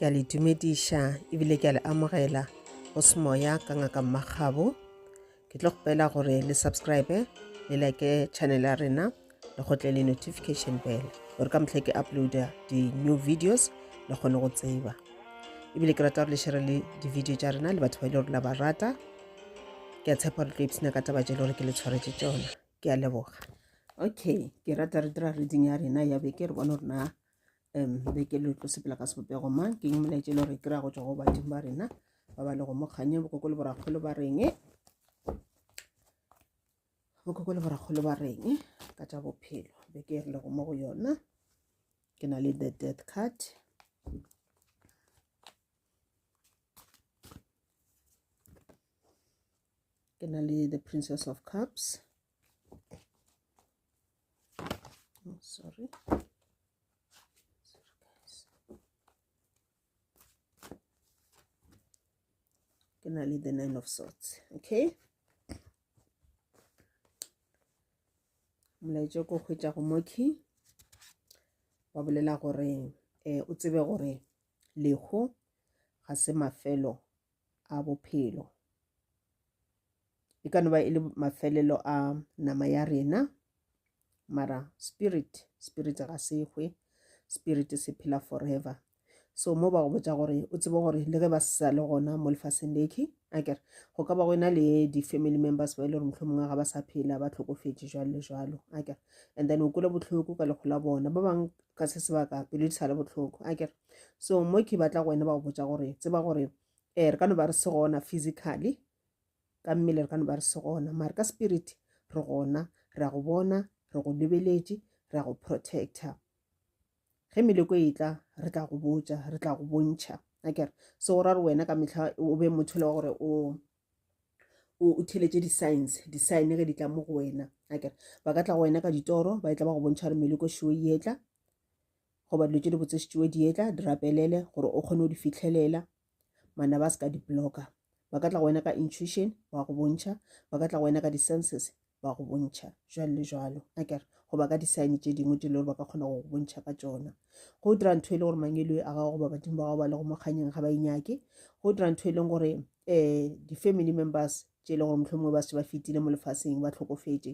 ke a le dumediša ebile ke a le amogela go se moya ka ngaka mmagabo ke tlo kgopela gore le subscribe le like channel ya rena le go tle le notification bell gore ka motlhe ke uploada di-new videos le kgone go tseba ebile ke rata gore le shere le di-video tša rena le batho ba e le gore la ba rata ke a tshepa gore tlo ipsena ka taba tše le gore ke le tshwaretse tsona ke a leboga okay ke rata re dira reading ya rena ya beke re bone gore na um beke le tlo sepela ka sebopego mang ke molaetša e le gore kry-a go tswa go badimo ba rena ba ba le go mo kganye bokoko le borakgolo ba reng bokoko le borakgolo ba reng ka tša bophelo beke e re lego mo go yona ke na le the death card ke na le the princess of cups Oh, sorry. Ke na le the nine of swords. Okay. molaetša ko hwetša go moki wa bolela gore um o tsebe gore lehu ga se mafelo a bophelo. E ka no ba e le mafelelo a nama ya rena mara spirit spirit ga se hwe spirit se phela forever so mo ba go botsa gore o tsebe gore le ge ba sa le gona mo lefaseng leke a kere go ka ba go ena le di-family members ba e le gore motlho mongwe ga ba sa phela ba tlhokofetse jalo le jalo a kere and then o kole botlhoko ka lekgo la bona ba bangwe ka se sebaka pelo di sa le botlhoko a kere so mo ke batla go wena ba go botsa gore tseba gore um re ka no ba re se gona physically ka mmele re ka no ba re se gona mare ka spirit re gona re a go bona re go lebeletše re a go protector ge meleko e tla re tla go botsa re tla go bontšha akere se go ra re wena ka metlha o be motho le wa gore o o theletše di-science di-sign ge di tla mo go wena akere ba ka tla go wena ka ditoro ba e tla ba go bontšha gore meleko shoe e etla goba dilo tše di botsešitšwe dietla di rapelele gore o kgone go di fitlhelela mana ba se ka di-blogger ba ka tla go wena ka intuition ba go bontšha ba ka tla go wena ka di-senses ba go bontšha jalo le jalo a kere goba ka di-sign tše dingwe tse le gore ba ka kgona go go bontšha ka tsona go dira ntho e le gore mangelo a gago goba badimo ba gago ba le go mokganyeng ga ba inyake go dira ntho e leng gore um di-family members tše e le gore mohlomongwe ba se ba fetile mo lefaseng ba tlhokofetše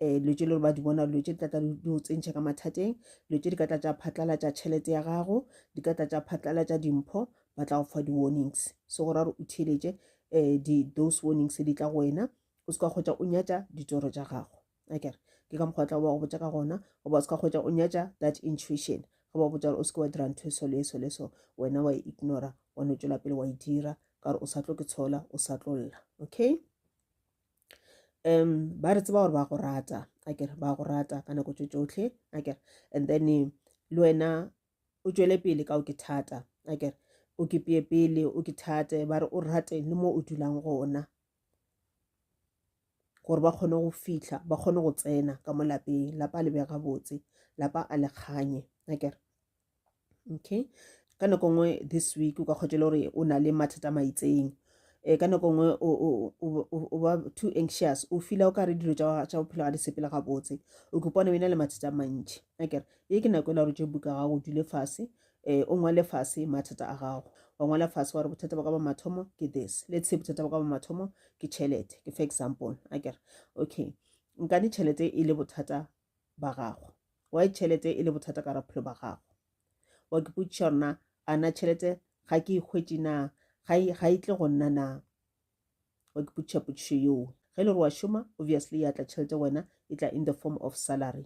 um dilo tše le gore ba di bona dilo tše di tlatla di go tsentšha ka mathateng dilo tše di ka tla tša phatlalatša tšhelete ya gago di ka tla tša phatlalatša dimpho ba tla go fa di-warnings se gore a re o theeletše um those warnings di tla go wena o se ka kgotsa o nyatša ditsoro tša gago a kere ke ka mokgwa tla ba go botša ka gona goba o se ka kgwetsa o nyatša that intuition ge ba botsa gore o se ke wa dira ntho e so le eso le so wena wa e ignora wa no tšwela pele wa e dira ka gore o sa tlo ke tshola o sa tlo lla okay um ba re tseba gore ba go rata a kere ba go rata ka nako tso tsotlhe a kere and then eh, le wena o tšwele pele ka o ke thata a kere o ke peye pele o ke thate ba re o rate le mo o dulang gona gore ba kgone go fihla ba kgone go tsena ka mo lapeng lapa a lebega botse lapa a le kganye akere okay ka nako nngwe this week o ka kgotse le gore o na le mathata maitseng um ka nako nngwe o ba too anxious o fila o ka re dilo tša bophelo ga di sepele ga botse o kopane o ena le mathata a mantši akere ye ke nako e la gore tše buka gago dule fase Ee, o ngwale fase mathata a gago. Wa ngwala fase wa re bothata ba ka ba mathomo ke this. Let's say bothata ba ka ba mathomo ke tšhelete, ke fa example. A kere, okay, nkane tšhelete e le bothata ba gago. Why tšhelete e le bothata ka raphelo ba gago? Wa ke potšiša gore na a na tšhelete ga ke e hwetše na ga e, ga e tle go nna na? Wa ke potšiša potšišo yeo. Ge e le gore wa šoma, obviously ya tla tšhelete wena e tla in the form of salary.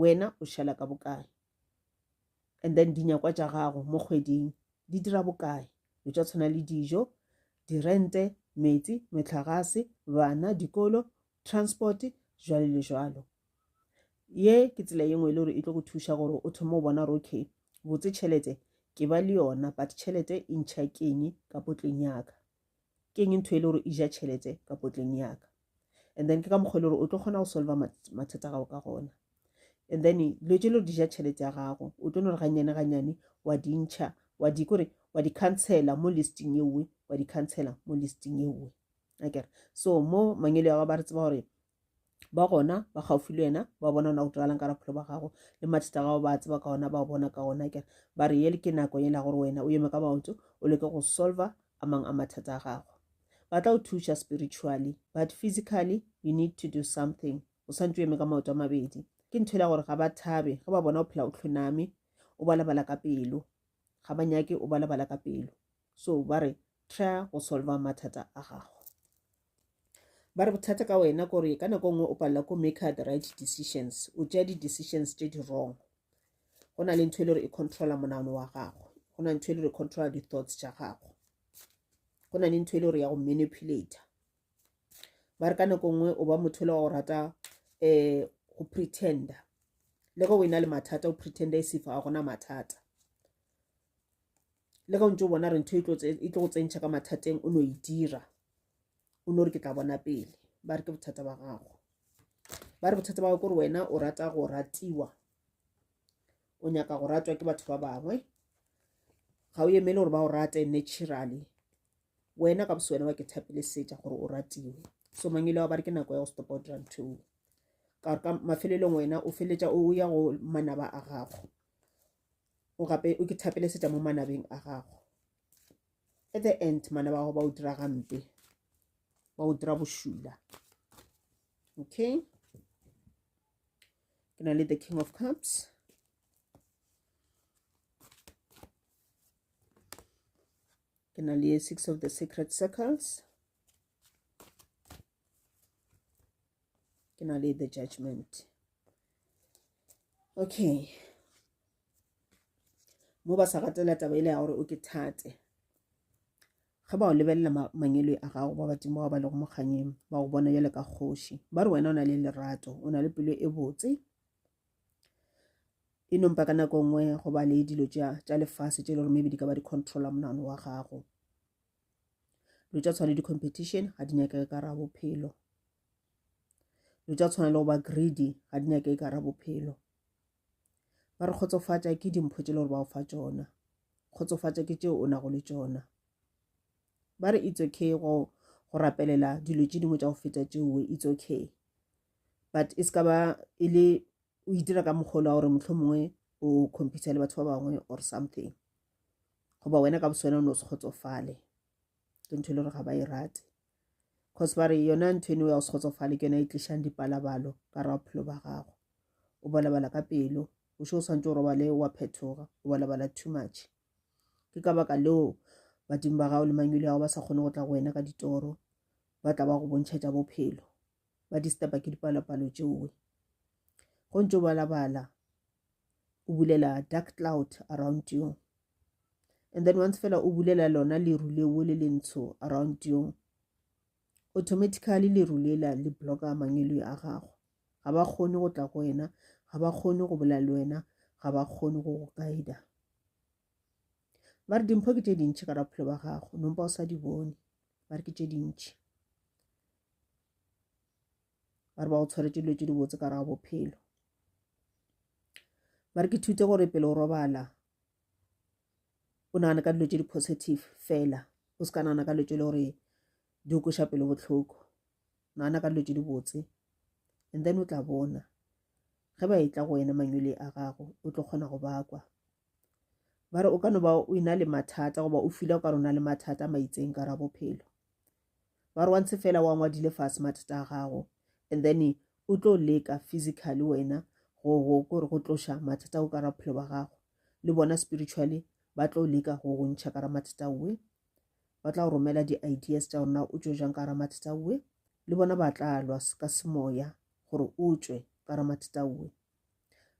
wena o šala ka bokae and then dinyakwa tša gago mo kgweding di dira bokae o tša tshwana le dijo dirente metsi metlhagase bana dikolo transport jwalo le jwalo ye ke tsela ye nngwe e le gore e tlo go thuša gore o thome o bona gore okay botse tšhelete ke ba le yona but tšhelete e ntšha keng ka potleng yaka ke eng ntho e le gore e ja tšhelete ka potleng yaka and then ke ka mokgwa e le gore o tlo kgona go solva mathata gago ka gona and then dilo tse le di ja tšhelete ya gago o tlo no re gannyane gannyane wa dintšha wa di kore wa di cancela mo listing e nngwe wa di cancela mo listing e nngwe akere so mo mangelo ya ba re tseba gore ba gona ba gaufi le wena ba bona ona go diragalang ka raphelo ba gago le mathata gago ba tseba ka ona ba o bona ka ona kere ba re ele ke nako e la gore wena o eme ka maoto o leke go solver a mang a mathata a gago ba tla o thuša spiritually but physically you need to do something o santse o eme ka maoto a mabedi ke ntho e la gore ga ba thabe ge ba bona o phela o tlhoname o balabala ka pelo ga ba nyake o balabala ka pelo so ba re try go solver mathata a gago ba re bothata ka wena kore ka nako e nngwe o palela ko maker the right decisions o tšea di-decisions tše di wrong go na le ntho e le gore e controla monagano wa gago go na ntho e le gore e controla di-thoughts tša gago go na le ntho e le gore ya go manipulator ba re ka nako e nngwe o ba motho le wa go rata um go pretender le go o e na le mathata o pretender e sefa ga gona mathata le ge o ntse o bona re ntho e tlo e e go tsentšha ka mathateng o no e dira o no re ke tla bona pele ba re ke bothata ba gago ba re bothata ba gago kore wena o rata go ratiwa o nyaka go ratwa ke batho ba bangwe ga o emele gore ba o rate naturally wena ka boswena wa ke thapile setša gore o ratiwe so mangele wa ba re ke nako ya go stopa o dira ntho ka mafelelong wena o feletša o ya go manaba a gago o gape o ke thapele seta mo manabeng a gago at the end manaba gago ba o dira gampe ba o dira bošula okay ke na le the king of cups ke na le six of the secret circles ke na le the judgment okay mo ba sa ratela taba ile ya gore o ke thate ge ba o lebelela mangelo a gago ba badimo ba ba lego mokganyeng ba go bona bjale ka kgoši ba re wena o na le lerato o na le pelo e botse e nompa ka nako nngwe go ba le dilo tša lefase tše e le gore maybe di ka ba di controla monano wa gago dilo tša tshwane di-competition ga di nyakege ka ra bophelo dilo tša tshwana le go ba greedy ga di nyake e kara bophelo ba re kgotsofatša ke dimpho tše le gore ba o fa tšona kgotsofatša ke tšeo o nago le tšona ba re it's okay go go rapelela dilo tše dingwe tša go feta tšeoe it's okay but e se ka ba e le o itira ka mokgolo wa gore motlho mongwe o compete le batho ba bangwe or something goba wena ka boswena o ne o se kgotsofale ke ntho e le gore ga ba e rate Cause ba re yona ntho eno ya go se kgotsofale ke yona e tlišang dipalabalo ka ra bophelo ba gago o balabala ka pelo o še o swantse o robale wa phetoga o balabala too much ke ka baka leo badimo ba gago le mangwele yago ba sa kgone go tla go wena ka ditoro ba tla ba go bontšha tša bophelo ba disturba ke dipalopalo tšeoe go ntse o balabala o bulela dark cloud around you and then once fela o bulela lona leru leo le le ntsho around yong automatically leru lela le blocka mangelo a gago ga ba kgone go tla go wena ga ba kgone go bolela le wena ga ba kgone go go kaida ba re dimpho ke tše dintšhi ka raphelo ba gago nompa o sa di bone ba re ke tše dintšhi ba re ba go tshwaretse dilo tše di botse ka raga bophelo ba re ke thute gore pele o robala o nagane ka dilo tše di positive fela o se ka nagana ka dilo tše e le gore di o kweša pelo bohloko nagana ka dilo tše di botse and then o tla bona ge ba etla go wena manyole a gago o tlo kgona go bakwa ba re o ka no ba o ena le mathata goba o fila o ka rona le mathata a maitseng ka ra bophelo ba re wa ntshe fela wa ngwadile fase mathata a gago and then o tlo leka physically wena go go gore go tloša mathata o ka ra bophelo ba gago le bona spiritually ba tlo leka go go ntšha ka ra mathata owe ba tla go romela di-ideas tša gorena o tšwe jang ka ra mathata owe le bona ba tla lwa ka semoya gore o tšwe ka ra mathata owe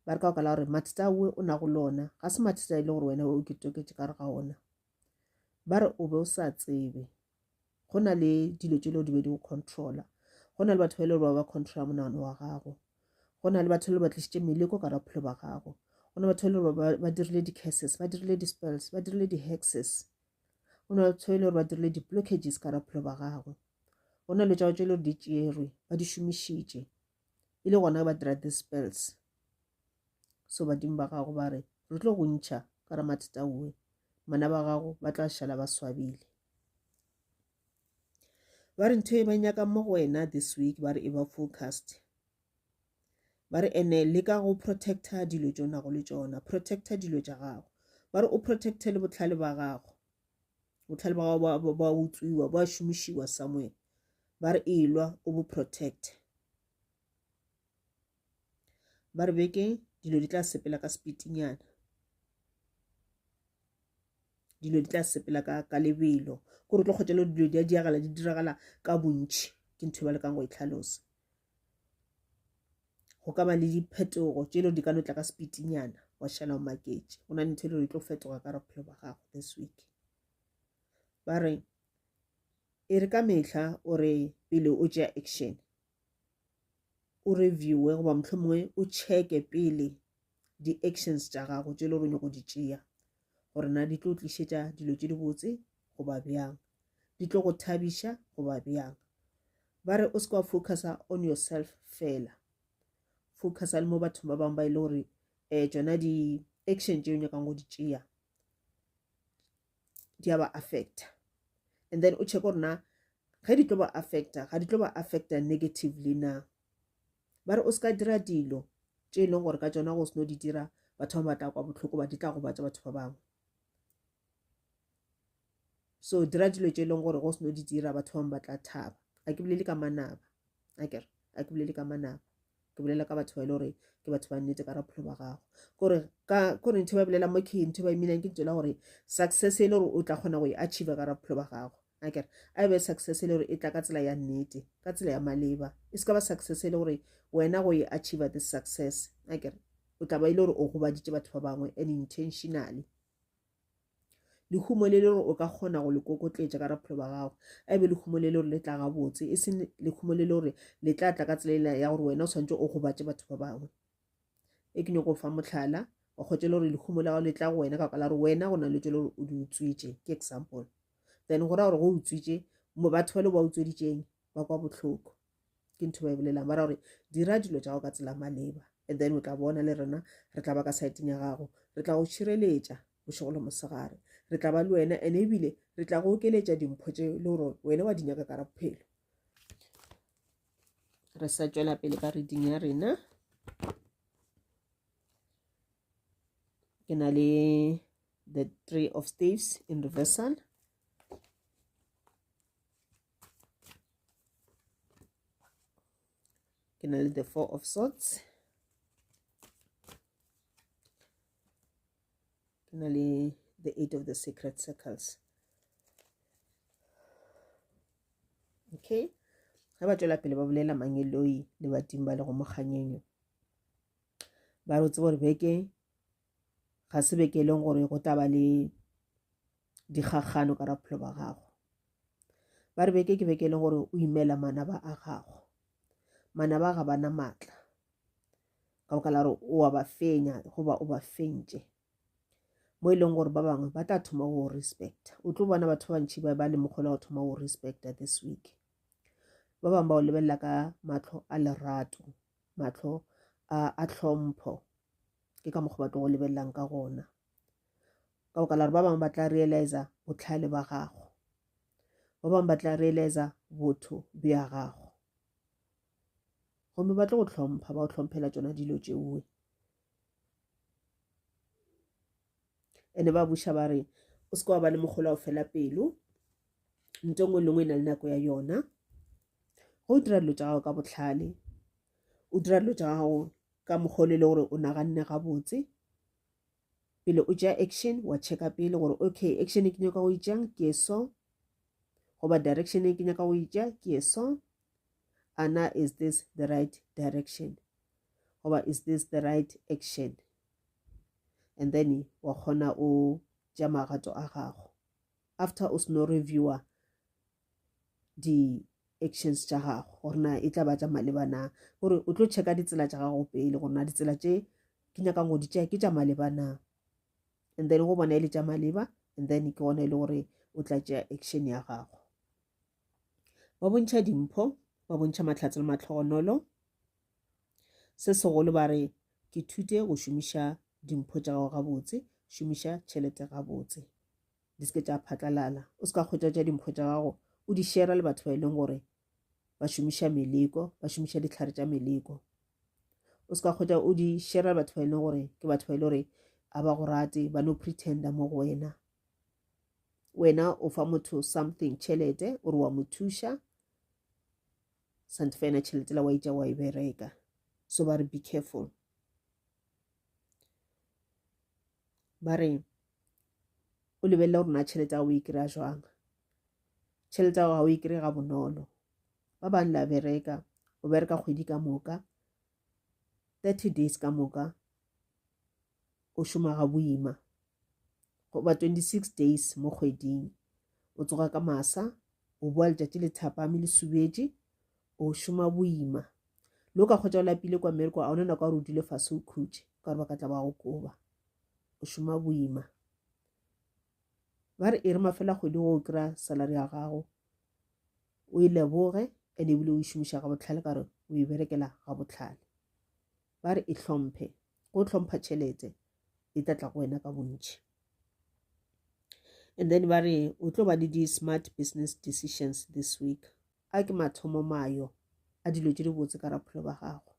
ba re ka okala gore mathata owe o nago le ona ga se mathata e le gore wena o ke toketse ka re ga ona ba re o be o sa tsebe go na le dilo tše leo di be di go controla go na le batho ba e le gore ba ba controla monagano wa gago go na le batho le ba tlišitše meleko ka bophelo ba gago go na batho e le gore ba dirile di-cases ba dirile di-spells ba dirile di-hexes go na batho e le gore ba dirile di-blockages ka bophelo ba gago go na le tšao tše e le gore di tšerwe ba di šomišitše e le gona ba dira the spells so badimo ba gago ba re re tlo go ntšha ka re mathata owe mana ba gago ba tla šala ba swabile ba re ntho e ba nyaka mo go wena this week ba re e ba focused ba re ene le ka go protecta dilo tšonago le tšona protecta dilo tša gago ba re o protecte le botlhale ba gago botlhale ba gago ba utswiwa ba šomišiwa somewhere ba re elwa o bo protect ba re beke dilo di tla sepela ka sepitinyana dilo di tla sepela ka ka lebelo gore tlo kgotelo dilo di a diagala di diragala ka bontšhi ke ntho e ba lekang go e tlhalosa go ka ba le diphetogo tše lo di ka no tla ka sepitinyana wa šala o maketše go na le ntho e le gore e tlo fetoga ka bophelo ba gago this week ba re e re ka mehla o re pele o tšea action o reviewe goba motlho mongwe o checke pele di-actions tša gago tše le gore nyako di tšea gore na di tlo tlišetša dilo tše dibotse goba bjang di tlo go thabiša goba bjang ba re o se ka focusa on yourself fela focusa le mo bathong ba bangwe ba e le gore um tsona di-action tše o nyakang go di tšea di a ba affecta and then o check gore na ge di tlo ba affecta ga di tlo ba affecta negatively na ba re o se ka dira dilo tše e leng gore ka tsona go seno di dira batho ba batla kwa bohloko ba di tla gobatsa batho ba bangwe so dira dilo tše e leng gore go seno di dira batho bangwe ba tla thaba a ke bolele ka manaba a kere a ke bolele ka manaba ke bolela ka batho ba e le gore ke batho ba nnete ka rapholo ba gago kore ka kore ntho e ba bolela mo ke ntho e ba eminang ke ntho e le gore success e le gore o tla kgona go e achieve ka rapholo ba gago a kere a be success e le gore e tla ka tsela ya nnete ka tsela ya maleba e se ka ba success e le gore wena go e achieve this success a kere o tla ba e le gore o gobaditše batho ba bangwe and intentionally lehumo le le gore o ka kgona go le kokotletša ka raphelo ba gago a e be lehumo le le gore le tla gabotse e seng lehumo le le gore le tla tla ka tselela ya gore wena o tshwanetse o gobatše batho ba bangwe e ke nyoko fa motlhala wa kgotse le gore lehumo la gago le tla go wena ka la gore wena go na le tse le gore o di utswitše ke example then go ra gore go utswitše batho ba le ba utsweditšeng ba kwa botlhoko ke ntho ba e bolelang ba ra gore dira dilo tša go ka tsela maleba and then o tla bona le rena re tla ba ka saeteng ya gago re tla go šireletša bošego le mosegare re tla ba le wena and ebile re tla go okeletša dimpho tše le gore wena wa di nyaka ka ra bophelo re sa tšwela pele ka reding ya rena ke na le the three of staves in reversal ke na le the four of sorts ke na le the eight of the secret circles okay ge ba tswela pele ba bolela mangeloi le badimo ba le go mokganyenyo ba re o tseba gore beke ga se beke e leng gore go tla ba le dikgakgano ka ra bophelo ba gago ba re beke ke beke e leng gore o imela manaba a gago manaba ga bana maatla ka boka la gore o wa ba fenya goba o ba fentše mo e leng gore ba bangwe ba tla thoma go respecta o tlo bona batho ba bantšhi ba ba le mokgolo go thoma go respecta this week ba bangwe ba o lebelela ka matlho a lerato mahlo a, a tlhompho ke ka mokgwa ba tlo go lebelelang ka gona ka boka la gore ba bangwe ba tla realiza botlhale ba gago ba bangwe ba tla realiza botho bja gago gomme ba tlo go tlhompha ba go tlhomphela tsona dilo tšeoe ene ba buša ba re o se ka wa ba le mogolo o fela pelo nto ngwe le ngwe e na le nako ya yona go o dira dilo tsa gago ka botlhale o dira dilo tsa gago ka mogolo e le gore o naganne gabotse pele o ja action wa checka pele gore okay action e ke nyaka go itšang ke e so goba direction e ke nyaka go itša ke e so ana is this the right direction goba is this the right action and then wa kgona o tša magato a gago after o seno reviewer di-actions tša gago gore na e tla ba tša maleba na gore o tlo checka ditsela tša gago pele gore na ditsela tše ke nyakang go di tšea ke tša maleba na and then go bona e le tša maleba and then ke gona e le gore o tla tšea action ya gago ba bontšha dimpho ba bontšha matlhatse le matlhogonolo Se segolo ba re, Ke thute go šomiša dimpho tša gago gabotse, šomiša tšhelete gabotse. Di se ke tša phatlalala. O se ka hwetša tša dimpho tša gago o di šera le batho ba e leng gore ba šomiša meleko, ba šomiša ditlhare tša meleko. O se ka hwetša o di šera le batho ba e leng gore ke batho ba e leng gore a ba go rate ba no pretenda mo go wena wena o fa motho something tšhelete o re wa mo thuša Sante fa ena tšhelete la wa itša wa e bereka so ba re be careful ba re o lebelela gore na tšhelete ya o e kry-a jwang tšhelete ya gago e kry ga bonolo ba bang la bereka o bereka kgwedi ka moka thirty days ka moka o šoma ga boima goba 26 days mo kgweding o tsoga ka masa o boa letšatši le thapame le subetše o šoma boima le o ka kgwetša o lapile kwa mmereko a ona nako ya gore o dule fase o khutše ka gore ba ka tla ba go koba o šoma boima ba re e re mafela kgwedi go o kry-a salary ya gago o e leboge and ebile o e šomiša ga botlhale ka gore o e berekela ga botlhale Ba re e hlomphe. Go hlompha tšhelete e tla tla go wena ka bontši. And then ba re o tlo ba le di-smart business decisions this week. A ke mathomo mayo a dilo tše di botse ka rapholo ba gago.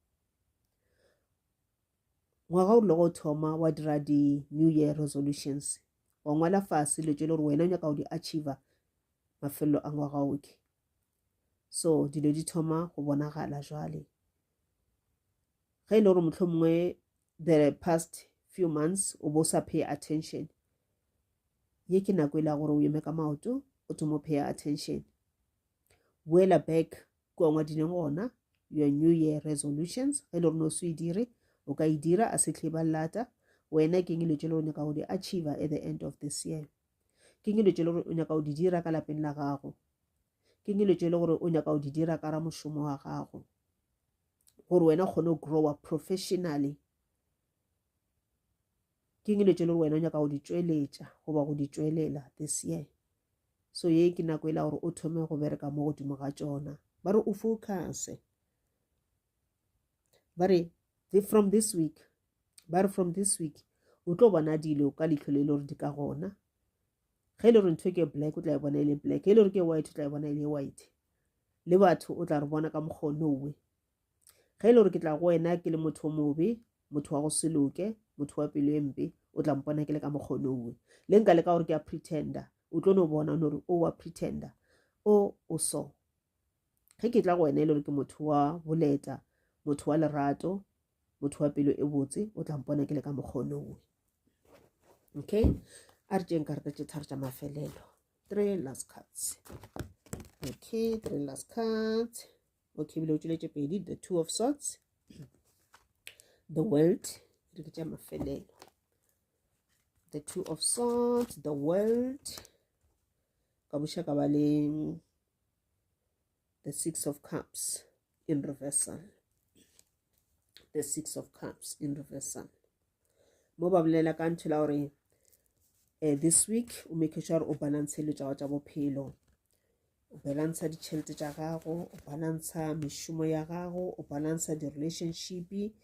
Ngwaga o logo thoma wa dira di-new year resolutions wa ngwala fase dilo tše le gore wena o nyaka go di achiever mafelelo a ngwaga oke so dilo di thoma go bonagala jwale ge e le gore motlho mongwe the past few months o bo sa pay attention ye ke nako e le ya gore o eme ka maoto o thomo pay attention boela back kua ngwadileng gona your new year resolutions ge e le gore no se e dire o ka e dira a se tlhe ba lata wena ke ngelo tšelo o nyaka go di achieve at the end of this year ke ngelo tšelo o nyaka go di dira ka lapeng la gago ke dilo tše e le gore o nyaka go di dira ka ra mošomo wa gago gore wena o kgone go growa professionally ke dilo tše e le gore wena o nyaka go di tšweletša goba go di tšwelela this year so ye ke nako e la gore o thome go bereka mo godimo ga tšona ba re o focuse ba re from this week ba re from this week o tlo bona dilo ka leitlho le e le gore di ka gona ge e le gore ntho e ke black o tla e bona e le black e le gore ke white o tla e bona e le white le batho o tla re bona ka mokgwa o nowe ge e le gore ke tla go wena ke le motho o mobe motho wa go se loke motho wa pelo e mpe o tla mpona ke le ka mokgwa o nowe le nka le ka gore ke a pretender o tlo no bona o no re o wa pretender o o so ge ke tla go wena e le gore ke motho wa boleta motho wa lerato motho wa pelo e botse o tla mpona ke le ka mokgonowe okay a re tšeng karata tše tharo tša mafelelo three last cards okay three last cards okay bile o tšweletše pedi the two of sorts the world re ke tša mafelelo the two of sorts the world ka buša ka ba le the six of cups in reversal the six of cups in reversal mo ba bolela ka ntho la gore um this week o make sure gore o balance le tšago tša bophelo o balansa ditšhelete tša gago o balansa mešomo ya gago o balansa di-relationship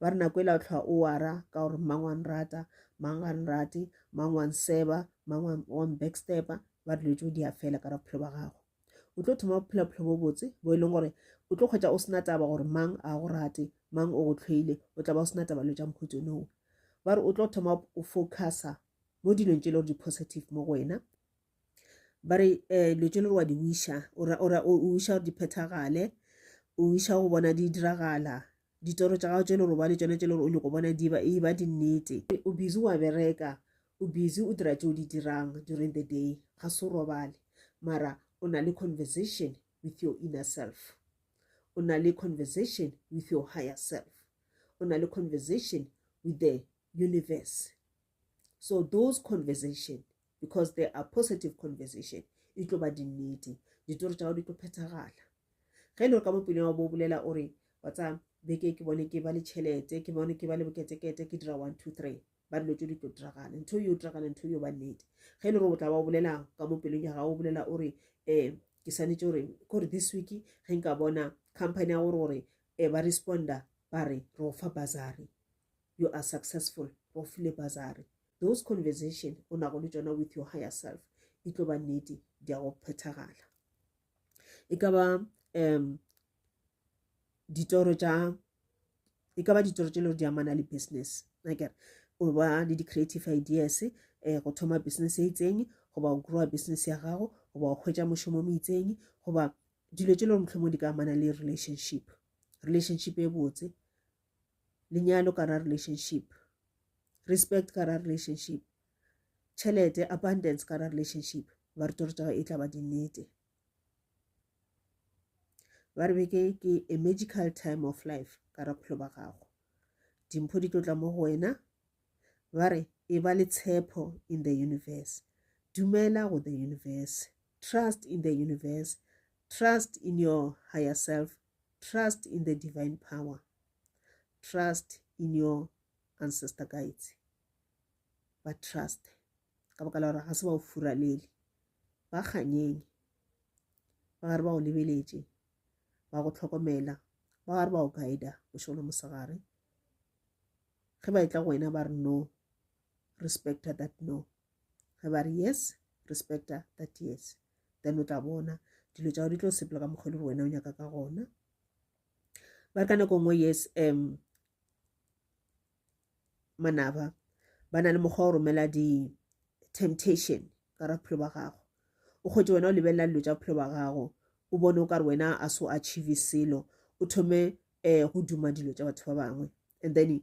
ba re nako e la o tlhoa o wara ka gore mang wa nrata mang ga nrate mang wa nseba mang wa mbackstepa ba dilo tšeo di a fela ka ra bophelo ba gago o tlo thoma bophelo bophelo bo botse bo e leng gore o tlo kgwetsa o sena taba gore mang a go rate mang o go tlhoile o tla ba o sena taba lo tša mokhutsonoo ba re o tlo thoma o focusa mo dilong tše e le gore di-positive mo go wena ba re um dilo tse le gore wa di wiša o wiša gore di phethagale o wiša go bona di diragala ditoro tša gago tse le gore ba le tsone tse le gore o nyako bona e ba dinnete o busy wa bereka o busy o dira tse o di dirang during the day ga se o robale mara o na le conversation with your inner self o na le conversation with your higher self o na le conversation with the universe so those conversation because they are positive conversation e tlo ba dinnete ditoro tša gago di tlo phethagala ge e le gore ka mopele wa bo o bolela o re wa tsa beke ke bone ke ba le tšhelete ke bone ke ba le boketekete ke dira one two three ba dilo tse di tlo diragala ntho yo diragala ntho yo ba nnete ge e le gore o tla ba o bolela ka mopelong ya gago o bolela o re um ke swanetse gore kore this week ge nka bona company ya gore gore um ba responda ba re re go fa basary you are successful ba o file bazari those conversation o nago le tšona with your higher self di tlo ba nnete di ya go phethagala e ka ba um ditoro tša e ka ba ditoro tše le gore di amana le business nakere o ba le di-creative ideas um go thoma business e itseng goba o growa business ya gago goba o hwetša mošomo mo itseng goba dilo tše le gore motlhomo di ka amana le relationship relationship e botse lenyalo ka ra relationship respect ka ra relationship tšhelete abundance ka ra relationship ba re toro tsa e tla ba dinnete ba re beke ke a magical time of life ka ra bophelo ba gago dimpho di tlotla mo go wena ba re e ba le tshepo in the universe dumela go the universe trust in the universe trust in your higher self Trust in the divine power. Trust in your ancestor guides. Ba trust. Ka baka la gore ga se ba o furalele. Ba kganyeng. Ba gare ba o lebeletše. Ba go tlhokomela. Ba gare ba o guida bošego le mosegare. Ge ba etla go wena ba re no. respecta that no ge ba re yes respecta that yes then o tla bona dilo tša go di tlo sepela ka mokgwa e le gore wena o nyaka ka gona ba re ka nako nngwe yes um manaba ba na le mokgwa wa go romela di-temptation ka ra bophelo ba gago o kgwetse wena o lebelela dilo tša bophelo ba gago o bone o ka re wena a so achieve selo o thome um go duma dilo tša batho ba bangwe and then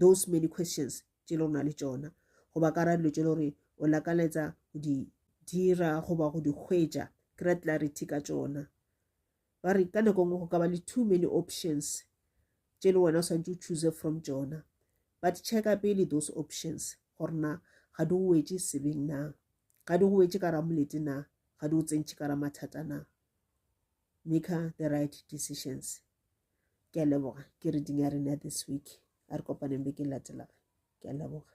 those many questions tše le na le tšona goba ka ra dilo tše le gore o lakaletsa go di dira goba go di hwetša kry clarity ka tšona ba re ka nako ngwe go ka ba le too many options tše le wena o swantse o choose from tšona but checka pele those options gore na ga di go wetse sebeng na ga di go wetse ka ramolete na ga di go tsentšhe ka ramathata na make her the right decisions ke a leboga ke reading ya rena this week a re kopaneng be ke latelaga ke a leboga